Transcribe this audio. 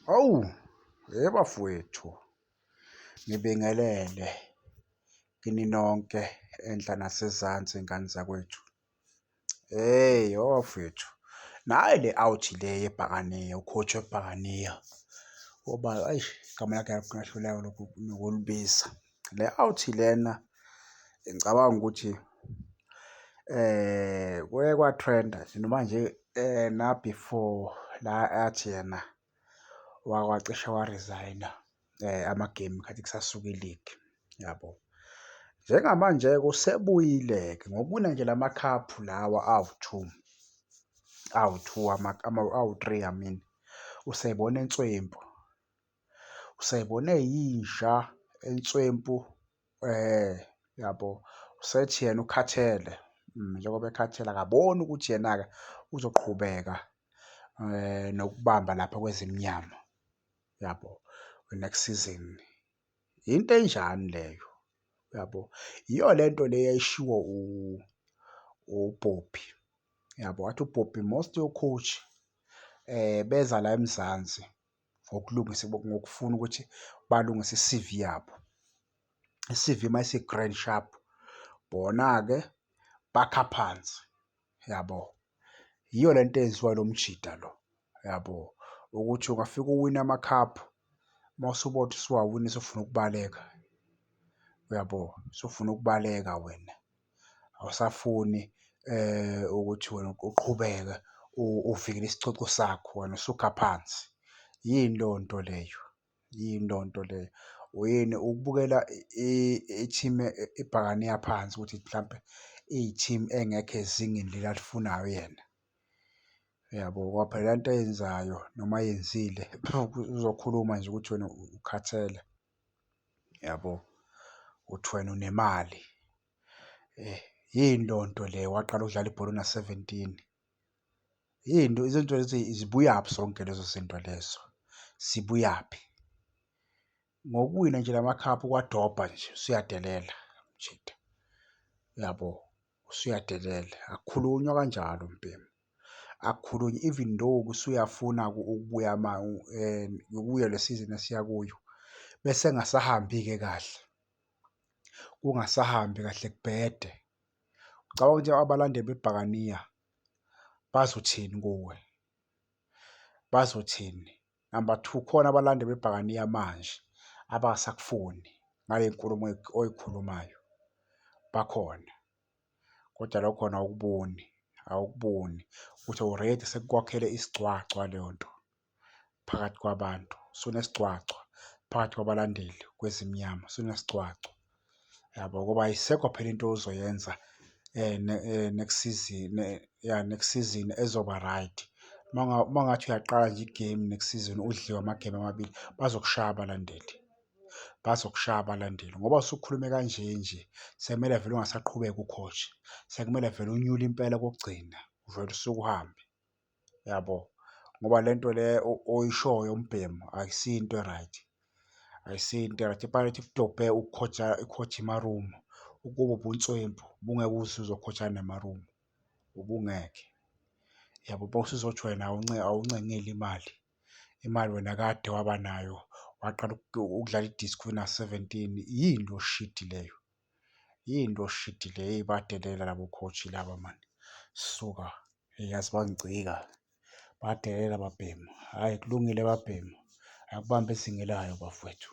Hawu, hey bafowethu, ngibingelele kini nonke enhla nasezansi ngane zakwethu. Hey yho bafowethu, nayi le out le yebhakaniya, ukhotho webhakaniya ngoba eish igama lakhe ngingahluleka nokulibiza. Le out lena ngicabanga ukuthi kuye kwa-trend-a nje noma nje na-before la athi yena wacishe wa-resign-a ama-game kade kusasuka iligi, yabo. Njengamanje-ke usebuyile-ke ngokuwina nje la makhaphu lawa awu-two, awu-two awu-three I mean, useyibona inswempu. useyibone yinja entswempu eh yabo usethi yena ukhathele mm, njengoba ekhathele akaboni ukuthi yena-ke uzoqhubeka eh nokubamba lapha kwezimnyama yabo next season into enjani leyo yabo yiyo lento le yayishiwo u uPoppy yabo wathi uPoppy most yocoach eh beza la eMzansi ngokulungisa ngokufuna ukuthi balungise i-C_V yabo. I-C_V uma isi-grand sharp, bona-ke bakha phansi, yabo? Yiyo le nto eyenziwa ilo mjita lo, yabo? Ukuthi ungafike uwine amakhaphu, uma usubothi usuwawina usufuna ukubaleka, uyabo? Usufuna ukubaleka wena. awusafuni ukuthi wena uqhubeke uvikele isicoco sakho, wena usukha phansi. Yini leyo nto leyo? Yini leyo nto leyo? Yini ukubukela i-team ibhakane iya phansi ukuthi mhlampe iyi-team engekho ezingeni leli alifunayo yena? Uyabo? Ngoba phela le nto ayenzayo noma ayenzile uzokhuluma nje ukuthi wena ukhathele. yabo uthi wena unemali eh yini leyo nto le waqala ukudlala ibhola una-seventeen yini izinto lezi zibuyaphi zonke lezo zinto lezo sibuyaphi ngokuwina nje lamakhaphu kwadobha nje usuyadelela mjita yabo. usuyadelela akukhulunywa kanjalo mbhemu akukhulunywa even though kusuyafuna ukubuya ma eh, yokuya le season esiya kuyo bese ngasahambi-ke kahle kungasahambi kahle kubhede ucabanga ukuthi abalandeli bebhakaniya bazothini kuwe bazothini Number two, khona abalande bebhakaniya manje abasakufuni ngale nkulumo oyikhulumayo bakhona, kodwa lokho khona awukuboni awukuboni ukuthi already sekukwakhele isigcwagcwa leyo nto phakathi kwabantu, sunesigcwagcwa phakathi kwabalandeli kwezimnyama sunesigcwagcwa. yabo ngoba ayisekho phela into ozoyenza next season ya next season ezoba right. Uma uma ungathi uyaqala nje igemu next season udliwe amagemu amabili bazokushaya abalandeli, bazokushaya abalandeli ngoba usukhulume kanje nje sekumele vele ungasaqhubeka u-coach, sekumele vele unyule impela kokugcina uvele usuke uhambe. yabo ngoba le nto le oyishoyo umbhemu akusiyo into e-right akusiyo into e-right ipayona idobhe ukukhotha ikhothe imarumu ukuba ubunswempu ubungeke usuzokhotha nemarumu ubungeke yabo bowusuzothi wena awuncengile imali imali wena kade waba nayo waqala ukudlala i-disc wena seventeen yini lo shidi leyo. Yinto shidi le badelela labo coach laba mani suka eyi yazi bangicika badelela babhemu. Hhayi kulungile babhemu akubambe izinga elayo bafwethu.